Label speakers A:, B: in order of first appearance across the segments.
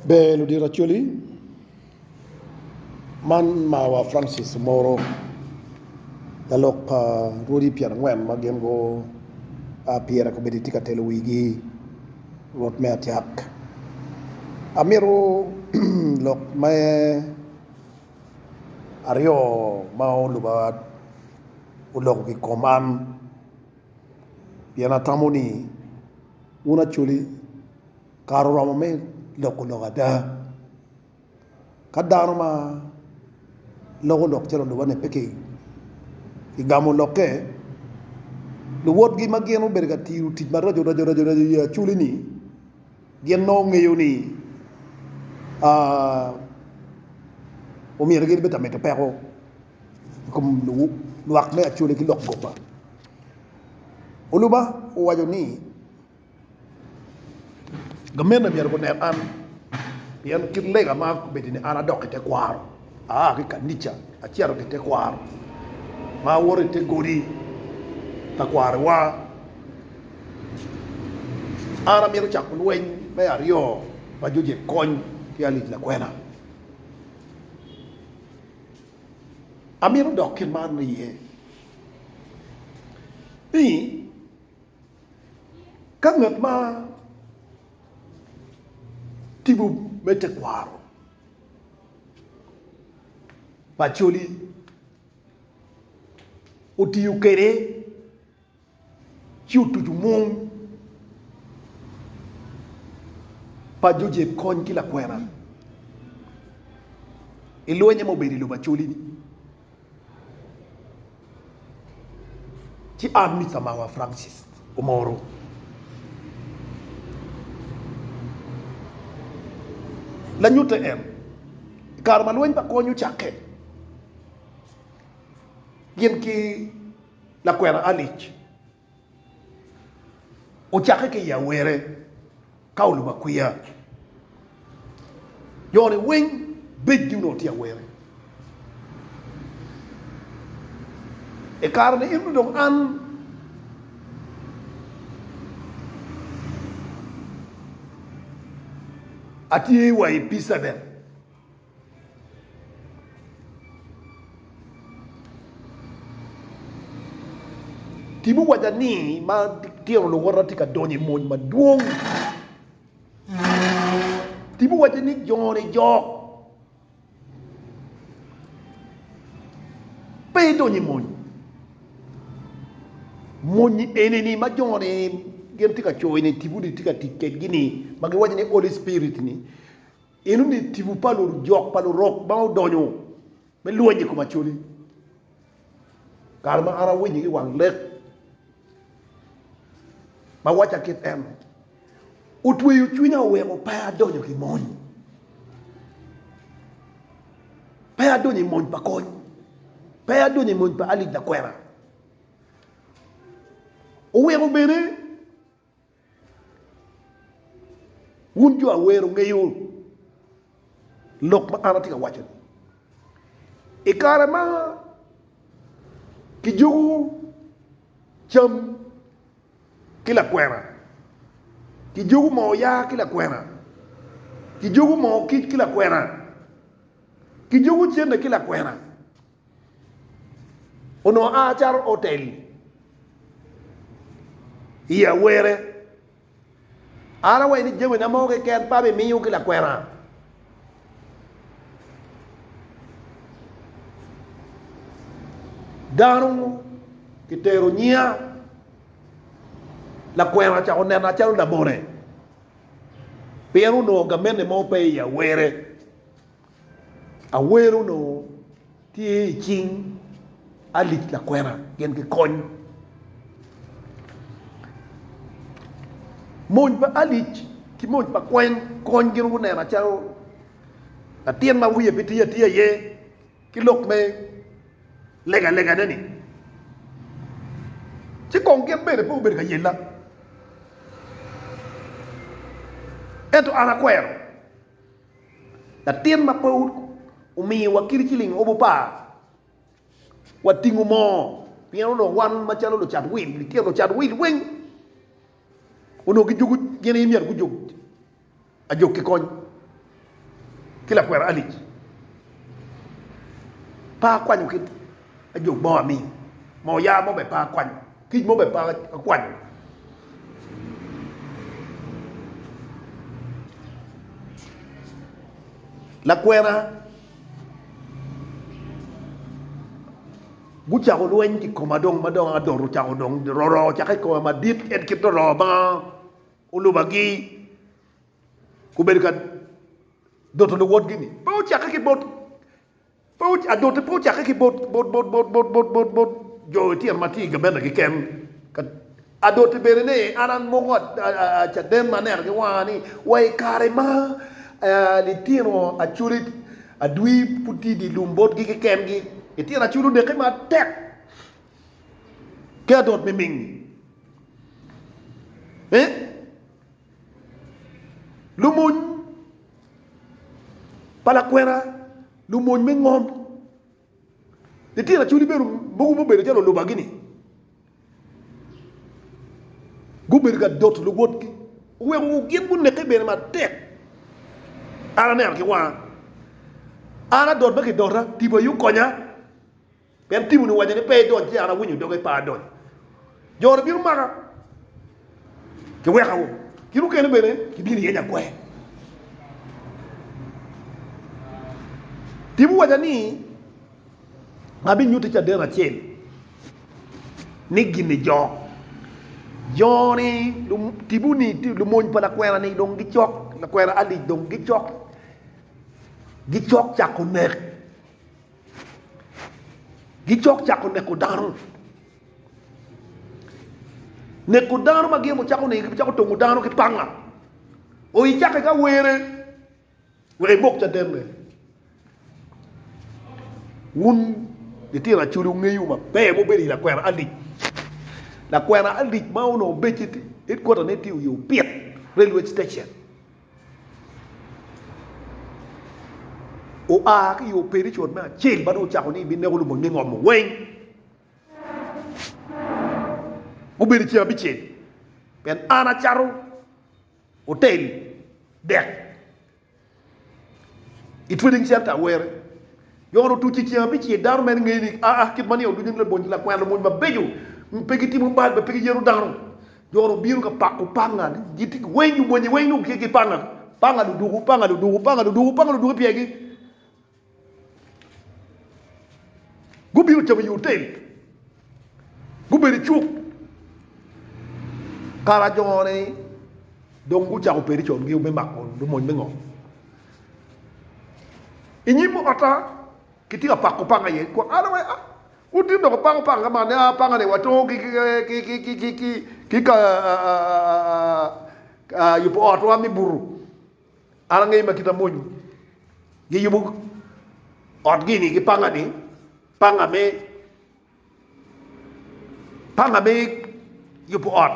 A: Ber ludito Acholi, man mawa Francis Omoro lalok pa rwodi pyer angwen ma gin gua pyere kobedi tye ka telo wigi rwot me acak. Amito lok me aryo ma oluba oloko ki kom an pien atamo ni Wun Acholi, kare oromo me loko lok ada. Ka dano ma loko lok calo lubo-ni pe kigamo lokke, luwotgi ma gin gubedo ka tiyo tic maraco raco raco i yi Acholi-ni gin nongo ngeyo ni omyero gin bed ka mito peko. i kom lwak me Acholi ki lok goba. Oluba owaco ni, Gamente myero gunek an, pien kit lega ma abedo ni an adok i tekwaro, aa ki i kanica acito ki i tekwaro, ma awoto i te godi ka kwarowa. An amito cako lweny me aryo ma Jojek kony ki Alic Lakwena. Amito dok ki man iye ni ka ngat ma timo me tekwaro pacoli otiyo kwede Ci otuco mung pa jo jeb kony ki lakwena i lwenye ma obedo i lobo Acholi-ni, ci an Mister Mawa Francis Omoro, lanyutte en, i kare ma lweny pa kony ocakke, gin ki. Lakwena Alice ocakke ki i Yawere, ka olubo akwiya. Yone weng bejgi onongo tye Yawere. I kare-ni eno dong an atye wa i Peacehaven. Tim owaca ni matino luwote tye ka donyo i mony madwong. Tim owaco ni joni jok pe idonyo i mony. Mony enini ma joni gin tye ka coyo ni Tim-mi tye ka tic kedgi-ni ma giwaco ni Holy Spirit-ni Eno ni tibu pa lujok pa lurok ma odonyo me lweny i kom Acholi. Kare ma an awinyo ki wang lek ma wacca kit eno, otweyo cwinya oweko pe adonyo ki mony, pe adonyo i mony pa kony, pe adonyo i mony pa alic lakwena. Oweko bene. Wun jo awer wungeyo lok ma an atye ka waco-ni. I kare ma kijuko cam ki lakwena, kijuko moo oyaa ki lakwena, kijuko moo kic ki lakwena, kijuko cente ki lakwena, Onongo aa calo otel i awere. An awaci ni jamina mo keken pe abimiyo ki lakwena. Dano kitero nyinga, lakwena ocako nena calo labone pien onongo gamente mo pe i awere. Awer onongo tye i cing alic lakwena gin ki kony. Mony pa alic ki mony pa kweny kony gin gu neno calo latin ma wiye pe tye atye aye ki lok me lega lega ne ni. Ci kong gin bene pe gubedo ka yella. Ento an akwero. Latin ma pe omiwa kit ciling obu par, watingo moo, pien onongo wan macalo lucat wil, litino lucat wil weng onongo gijuko gin aye myero gujog ajog ki kony ki lakwena Alic. Pe akwanyo kit ajog mo amii, moo yaa mo bene pe akwanyo. Kic mo bene pe akwanyo. Lakwena gucako lweny ki koma dong ma dong adot ocako dong roro ocake koma madit en kit roro ma olubagi obedo ka doto luwotgi ni pe ocake ki bot Adote pe ocakke ki bot jo itino ma tye i gabena keken. Adote bene ni, An amoko caden ma aneno ki wanga ni, wa i kare ma litino acoli adwi pud tye i dye lum botgi kekengi, litino acoli onekke matek ki adot miming. Lumony pa lakwena, lumony me ngom. Litino acwali bene mogo mubedo calo olubagi-ni gubedo ka doto luwotgi, oweko gin guneke bene matek. An aneno ki wanga, an adot ma kidota, Tipo aye okonya. Pien Timon owaco ni, 'Pe idony, ci an awinyo doge pe adonyo. Jo-ni bino maka, giweka woko, kit mukene bene gibino yenya kwer. Tim owaca ni, 'Abinyutti caden acel ni gin ijok. Jo-ni, tipo-ni, lumony pa lakwena-ni dong gicok, lakwena Alic dong gicok, gicok cako nek. Gicok cako neko dano. Neko dano ma gin wucako nino gibicako tongo dano ki panga. O icake ki awere wek imok cadenne. Wun litino acoli wungeyo maber ma wubedo i lakwena Alic. Lakwena Alic ma onongo becce headquarter ne tye i Opit railway station. Oa ki i operation me acel ma dong ocako ni i bineko lubongi me ngomo weng. Gubedo i ceng abicel pien an acato otel dek i trading center Awere. Yohana otuco i ceng abicel, dano meno ngeyo ni aa kit ma niang ducu ni labonyi lakwena labonyi mabeco pe gitimo bal bene pe giyero dano. Yohana obino ka pako panga ni giti weng lubonye weng dong gitye ki panga, panga luduku, panga luduku, panga luduku, panga luduku ipyegi. Gubino camo i otel. Gubedo i cuk. Kara ajone dong gucako peri con gio me mako lumony me ngo. I nyim ota kitye ka pako panga iye. Kwong ano wai ah wun tin dok wupako panga man ah panga ni watongo ki ki ka yubo ot wa me buto. An angeyo ma kit amonyi giyubo ot gi ni ki panga ni. Panga me Panga me yubo ot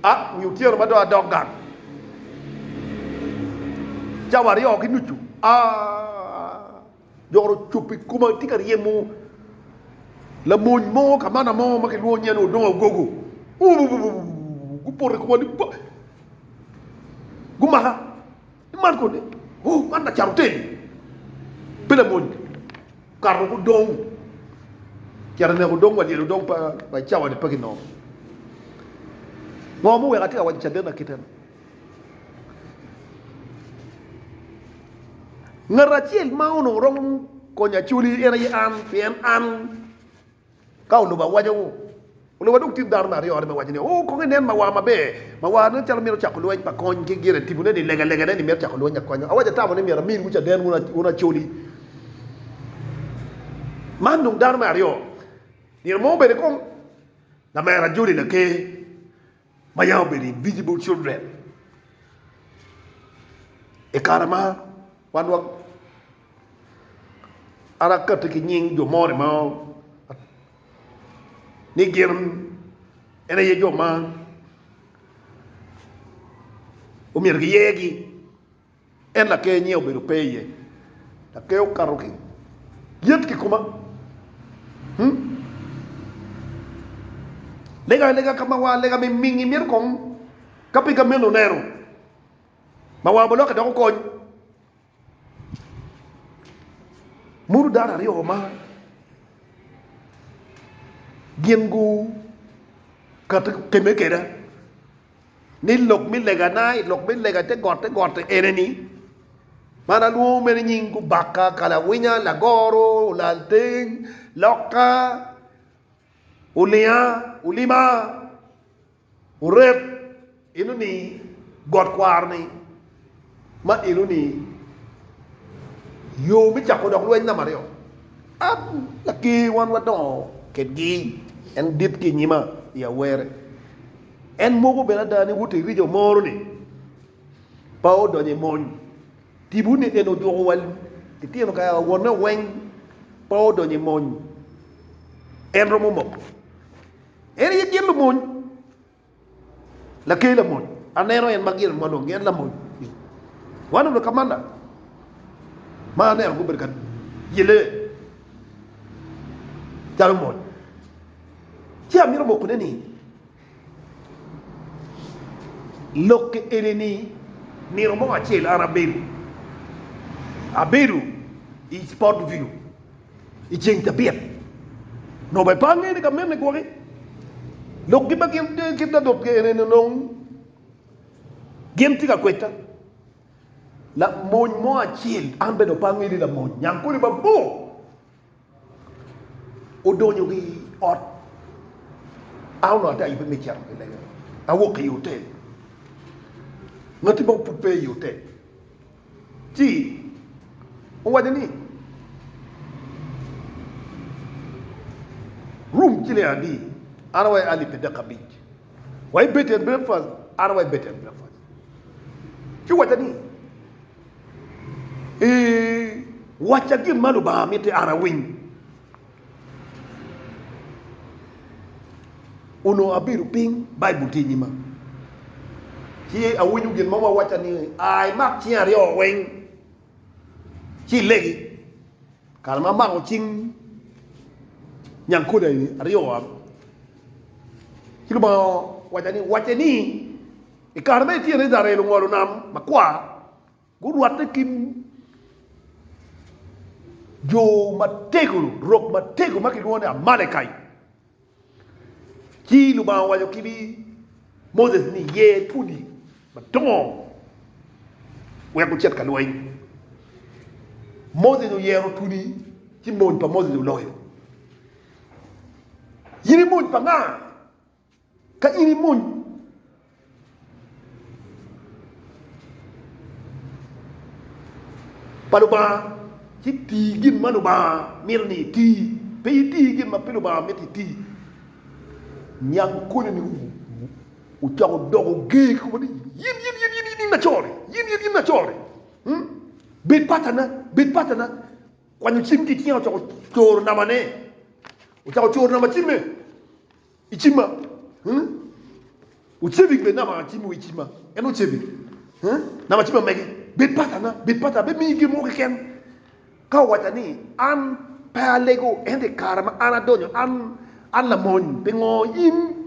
A: a nyo otyeno ma dong adok gang cawa aryo ki nucu a joro ocup i koma atye ka ryemo lamony mo kamana mo ma kilwongo nyinge ni Odong Agogo uuh gupoto i koma ni pa gumaka Man kodi? Oh, man lacat otel, pe lamony. Kato woko odong. Cito oneko odong wa lyel odong pa i cawa-ni pe kinongo. Ngo muweko atye ka waco caden akiteno? Ngat acel ma onongo romo konyo acoli en aye an, pien an. Ka olubo awaca wu, olubo adwog tit dano me aryo are me waco ni, Oo, kong inen mawar maber. Mawar nen calo mito cako lweny pa kony ki gire tipone ni legalegane ni mito cako lweny akwanya. Awaca tamo ni myero amiwu caden wun acoli. Man dong dano me aryo. Nino mo obedo i kom lamera joli laker. ma yam obedo invisible children i kare ma wan wa an akati ki nying jo moni mo ni gin en aye jo ma omyero giyegi. En laker nyinge obedo pe iye. Laker okato ki yet kikoma. Hmm? Lega lega ka ma wa lega mi mingi mito kong ka pi ka meno neno ma wa boloke doko kony. Mudu dano aryo ma gin gu kate keme keda. ni lok me legana i lok me lega te got te got-ti ene-ni, Man alwongo mere nying Gubaka, Kalawinya, Lagoro, Olalteng, Lokka, Olinga, Olima, Orep, eno-ni got kwaro-ni, Ma eno ni yo me cako dok lweny namba aryo. An laker wan wadongo kedgi, en dit ki i nyima i awerre. En moko bene ada ni woti rijo moro ni pa odonyo i mony. Tipo ni eno ojuko wa litino ka wonne weng pa odonyo i mony. En romo moko en aye gin lumony. Laker lamony, aneno en ma gire ma lwongi en lamony ni, Wan obedo ka manna ma aneno gubedo ka yele calo mony, ci amito mokone ni lokke eni-ni nino mo acel an abedo abedo i Spottview. I ceng cabit, nongo bene pe angeyo ni ka mene gwoki lok kit ma gin ta dot kwede ni nongo gin tye ka kweda. Lamony mo acel, an bene nongo pe angeyo ni lamony, nyangkole mabor odonyo ki i ot, an onongo ati ayubbe me cito ki lenge, awok ki i otel, ngati mo pud pe i otel. Ci owaco ni, Rum ci ling adi, an wa i alip adek ki abic, wa i bed and breakfast, an wa i bed and breakfast. Ci owaco ni, Ee, wacca gin ma Lubanga miti an awiny. Onongo abedo piny, Baibul tye i nyima, ci awinyo gin mo ma wacca ni, A imak cingi aryo weng, ci ilegi. Kare ma amako cing nyangkole aryo, ci Lubanga owacca ni, Wacce ni, I kare ma itye i Icrael ongolo Nam Makwar, Gurwatte ki jo matego, rok matego ma kilwongo ni Amalekai. Ci Lubanga owaco ki Moses ni, 'Ye pudi madongo wek wucit ka lweny. Moses oyero pudi, ci mony pa Moses oloyo. In imony pa nga? Ka in imony pa Lubanga ci ti gin ma Lubanga mito ni iti, pe iti gin ma pe Lubanga mito iti. Niang koni ni wucako doko ger kikobo ni, Yin, yin, yin, yin, yin acor-ri, yin, yin, yin acor-ri, bed patana, bed patana. Kwanyo cim ki icinga ocako coro nama ne, ocako coro nama cimme. I cima, hmm, wucebik bed nama cim wi cima, en ocebik, hmm, nama cima mege bed patana, bed patana, be miyi gin mo keken. Ka owaca ni, an pe alego, ento i kare ma an adonyo, an, an lamony, pingo in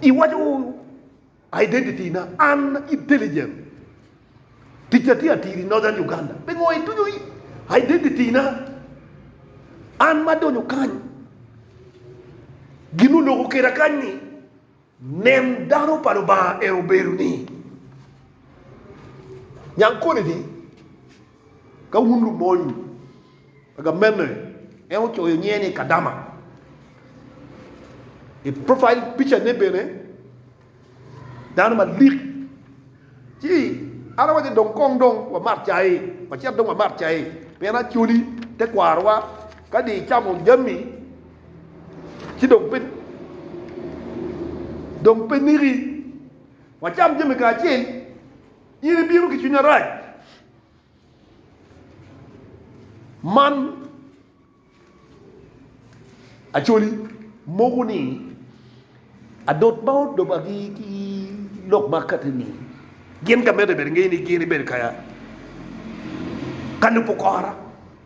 A: iwaco Identity na An intelligent Tic atye atir i Northern Uganda Pingo ituco i Identity na An ma adonyo kany Gin oloko keda kany ni Nen dano pa Lubanga en obedo ni Nyang koni ni Ka wun lumony agamene, en ocoyo nyinge ni Kadama. I profile picture ne bene dano malik. Ci an awaco dong kong dong wamat cai, wacit dong wamat cai pien Acholi te kwarowa ka dong icamo jami ci dong pe dong pe niki wacam jami kacel. In ibino ki cwiny arac man acoli mogo ni adot ma odoba ki ki lok ma akati ni gin ka mede bene ngeyo ni gin ibedo ka ka lubo kora.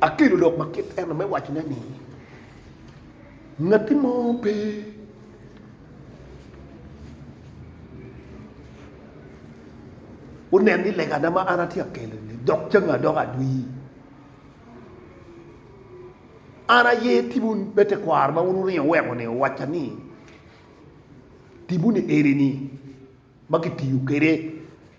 A: Akelo lok ma kit eno me wacone ni, Ngati mo pe onen ni legana ma an atye ka kelo-ni dok cange adoka adwi. An aye timwu me tekwaro ma wun wuringo wuweko-ni owacca ni, Timwu ni eni-ni ma kitiyo kwede.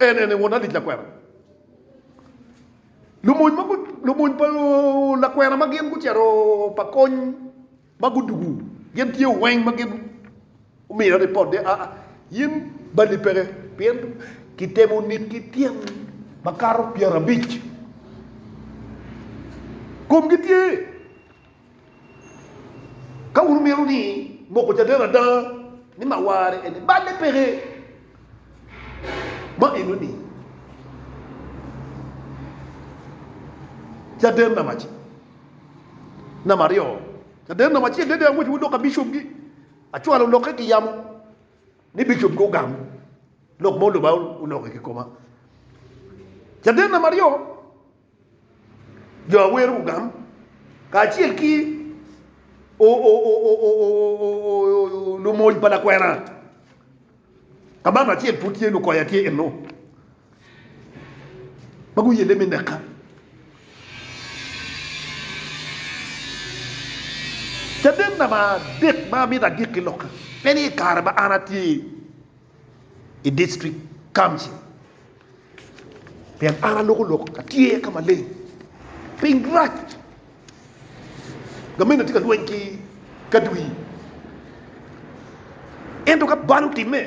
A: En ene won alic lakwena. Lumony ma gu, lumony pa lakwena ma gin gucito pa kony ma gudugu, gin tye weng ma gin omiyo ripot ni, aa, in balli peke, pien kitemo nit ki tyen makato pyerabic. Komgi tye. Ka wun wumito ni moko caden ada ni mawarre en-ni, balle peke ma enoni caden namaci, namaryo, caden namaci en-ni dong angwec wudok ka bicopgi, acwalo lokke ki yamo ni bicopgi ogam lok ma oloba olokke ki koma. Caden namaryo. jo a wero ogam kacel ki lumony pa lakwena kabaka acel pud tye lukoya tye eno ma guyelle me neka. Caden namba adek ma amito agik ki loka en ni i kare ma an atye i district council. Pien an aloko lok atyer ka maleng, piny rac, gamente atye ka lweny ki kadwi. Ento ka bal otimme,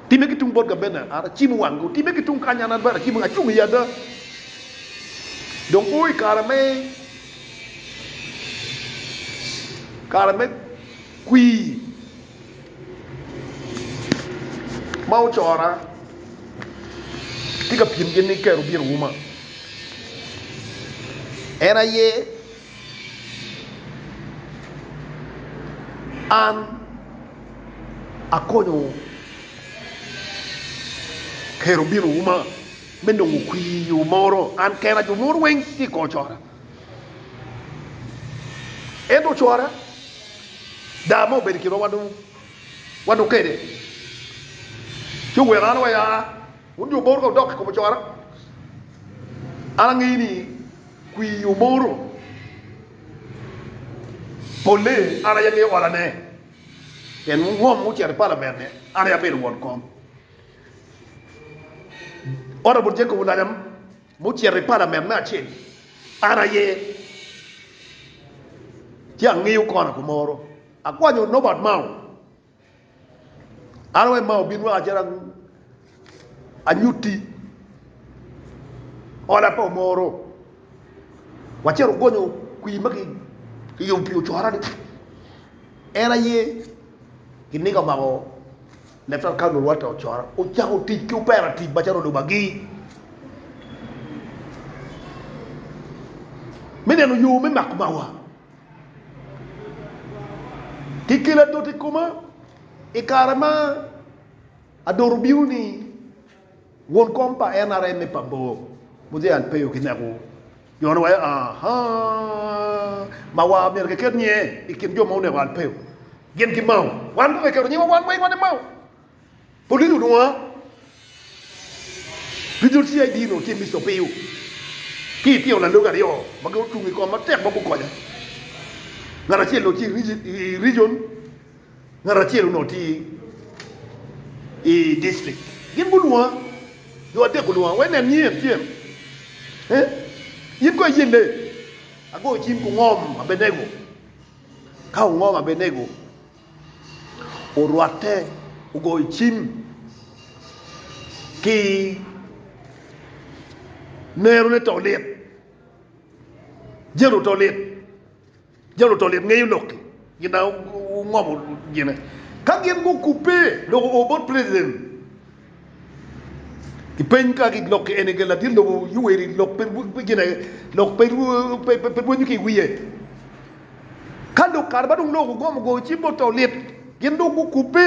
A: timme ki tung bot gamente, an acimo wanggi, otimme ki tung kany, an bene acimo, acung i ada. Dong o i kare me kare me kwir. ma ocora tye ka pim gin ni kero biro uma en aye an akonyo kero biro uma me nongo kwir moro an kena jo mogo weng tye ka cora. Ento ocwara, daa ma obedo i kinwa wan dong kede, ci oweko an waya wun jo mogo odok i kom ocwara. An angeyo ni kwir omoro polle an aye angeyo olane, pien ngom ocito i palament-ni an aye abedo won kom. Honorable Jacob Oulanyah. Mucito i palament me acel, an aye, ci angiyo kona kumoro, akwanyo Norbert Mao. An awaco ni Mao bin weka calo anyutti hola pa Omoro. Wacito wagonyo kwir ma kiyubo pi ocorani. En aye kiniga omako. Letter ka lurwatte ocoro ocako tic ki operative macalo lubagi me neno yo me mako mawa ki kelo adot i koma i kare ma adot obino-ni. Won kom pa NRA me pa bor Muzee Alpeyo ki Nek wu yone wa aa ma wa myero ki ket nyiye i kin jo ma oneko Alpeyo gin ki Mao wan kong ki keto nyiwa wan weng wati Mao Police onwongo Regional CID onongo tye Mister Opiyo ki itino lalogi aryo ma gin otungo i koma matek ma gukonya ngat acel onongo tye i Region Ngat acel onongo tye i dictrict, gin gulwonga, jo adek gulwonga, wek nen nyier tyem. In kono iye le? Agoyo cim ku ngom Abenego. Ka ongom Abenego, orwatte, ogoyo cim ki nerone to lit, jelo to lit. Jo luto lit ngeyo lok-ki gin na wungomo gine. Ka gin gukubbe dok guo bot president, gipeny ka gin lok-ki eni gin ladit lobo Yoweri lok pe gin aye, lok pe rwenyo ki i wiye. Ka dong kare ma dong lok gugomo goyo cim bot to lit, gin dong gukubbe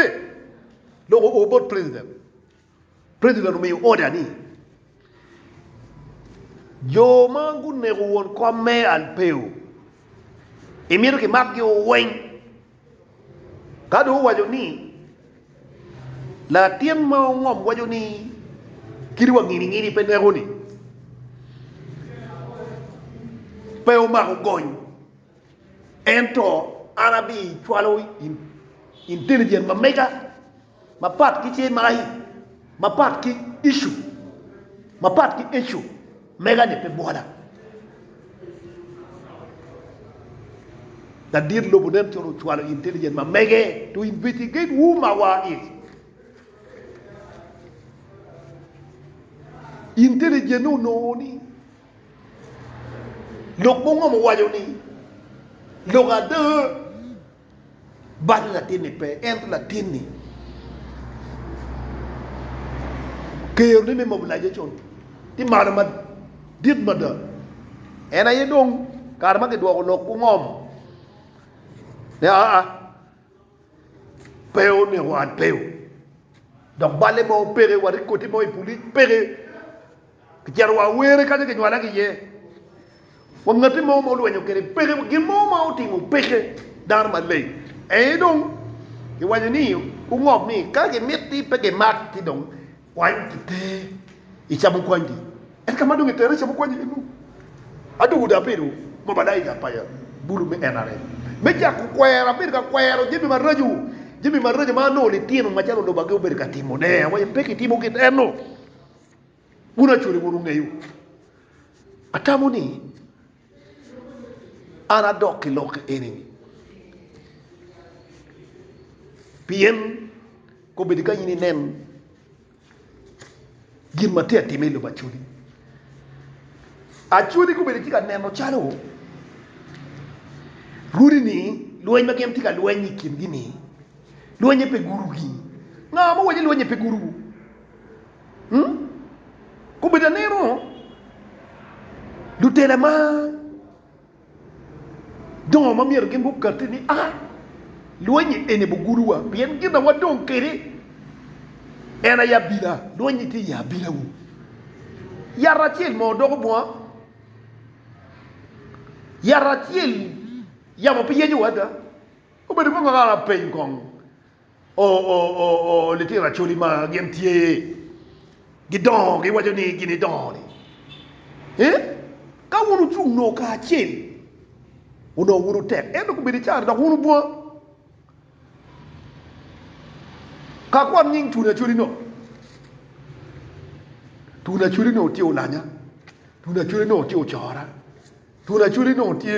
A: dok guo bot president. President omiyo order ni jo ma guneko won kom me Alpeo imito kimak gi o weng. Ka dong owaco ni latin ma ongom waco ni kit wa ngini ngini pe neko ni pe omako gony ento an abi cwalo intelligent ma mega. Mapat ki cer magi, mapat ki icu, mapat ki icu mega-ni pe bwola. Ladit lobo nen calo ocwalo intelligent ma mege to investigate who Mawa is. Intelligent ne onongo ni lok mo ngom owaco ni lok ada. Balo latinni pe, ento latinni kero ni me mobilization tye malo madit mada. En aye dong kare ma kidwoko lok gungom ni aa pe oneko wat peo dok balle mo peke, wat i koti mo i pulic peke. Kicito wa Owerri kanya kinywala ki iye. Wa ngati mo ma olwenyo kede peke, gin mo ma otimo peke dano maleng. Aye dong kiwaco ni gungob ni ka gimit ni pe gimak ki dong kwany ki te i camo kwany gi. En ka ma dong itere i camo kwany iye nu, adong oda bedo ma malaika pa ya bulu me NRM me cako kwero. Abedo ka kwero jami maraco, jami maraco ma nongo litino macalo lubagi obedo ka timo ne. Awaco pe kitimo kit eno. Wun acwele wun wungeyo. Atamo ni an adok ki lokke eni-ni. Pien kobedi ka in inen gin ma tye atime i lobo acweli, acweli kobedi tye ka neno calo runi-ni lweny ma gin tye ka lweny i kingi-ni lweny-nyi pe gurugi. Nga ma owaci lweny-nyi pe guruwu? Kobedo aneno lutela ma dongo ma myero gin gukatte ni, A! Lweny-nyi eni bugudowa, pien gin ma wadong kwede en aye abila. Lweny-nyi tye i abilawu. Yat acel moo doko bunga? Yat acel yamo pe yecowa ada? Obedo kong kara peny kong, Oo, litino Acholi ma gin tye gidongo giwaco ni gin idongo ni ee, ka wun wucung noo kacel onongo wun wutek ento gubedo icar dok wun wubunga ka kwan nying twoni Acholi no. Twoni Acholi onongo tye olanya, twoni Acholi onongo tye ocora, twoni Acholi onongo tye.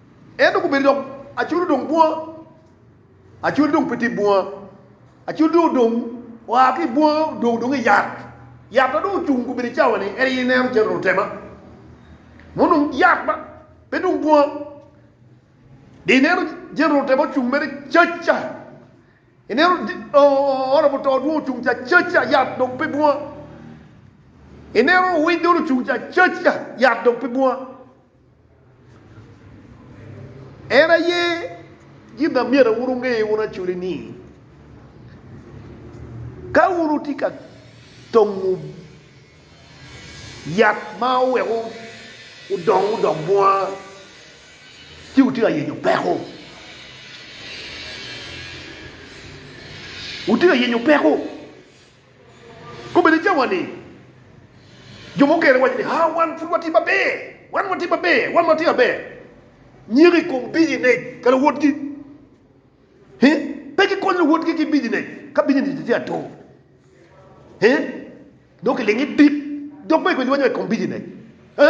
A: Ento gubedo dok acol odong bunga, acol dong pe tye bunga, acol dong odong oa ki i bunga odong dong i yat. Yat ma dong ocung gubedo i cawa-ni en aye ineno calo lutema ma onongo yat ma pe dong bunga, dong ineno jami lutema ocung mere cac ca, ineno ot pa muto dong ocung ca cac ca yat dong pe bunga, ineno owiny dong ocung ca cac ca yat dong pe bunga. En aye gin ma myero wun wunge wun acoli ni, ka wun wutye ka tongo yat ma oweko odongo odok bunga ci wutye ka yenyo peko. Wutye ka yenyo peko. Kobbe ni cawa ni, jo mukene waco ni, Ha, wan pud watye maber, wan watye maber, wan watye maber. Nyeko i kom bicinec ka luwotgi. He? Pe gikonyo luwotgi ki bicinec ka bicinec tye atur. He? Dok kilingi dit, dok pe gikonyo luwotgi i kom bicinec. He?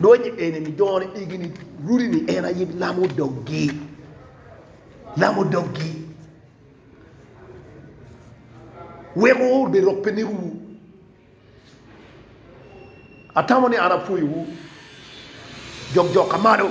A: Lwonye eni ni done igi ni rudi ni en aye lam odoggi. Lam odoggi. Wek wur be rok pe ni ruwu. Atamo ni an apwoyo wu. Jok jok ka malo.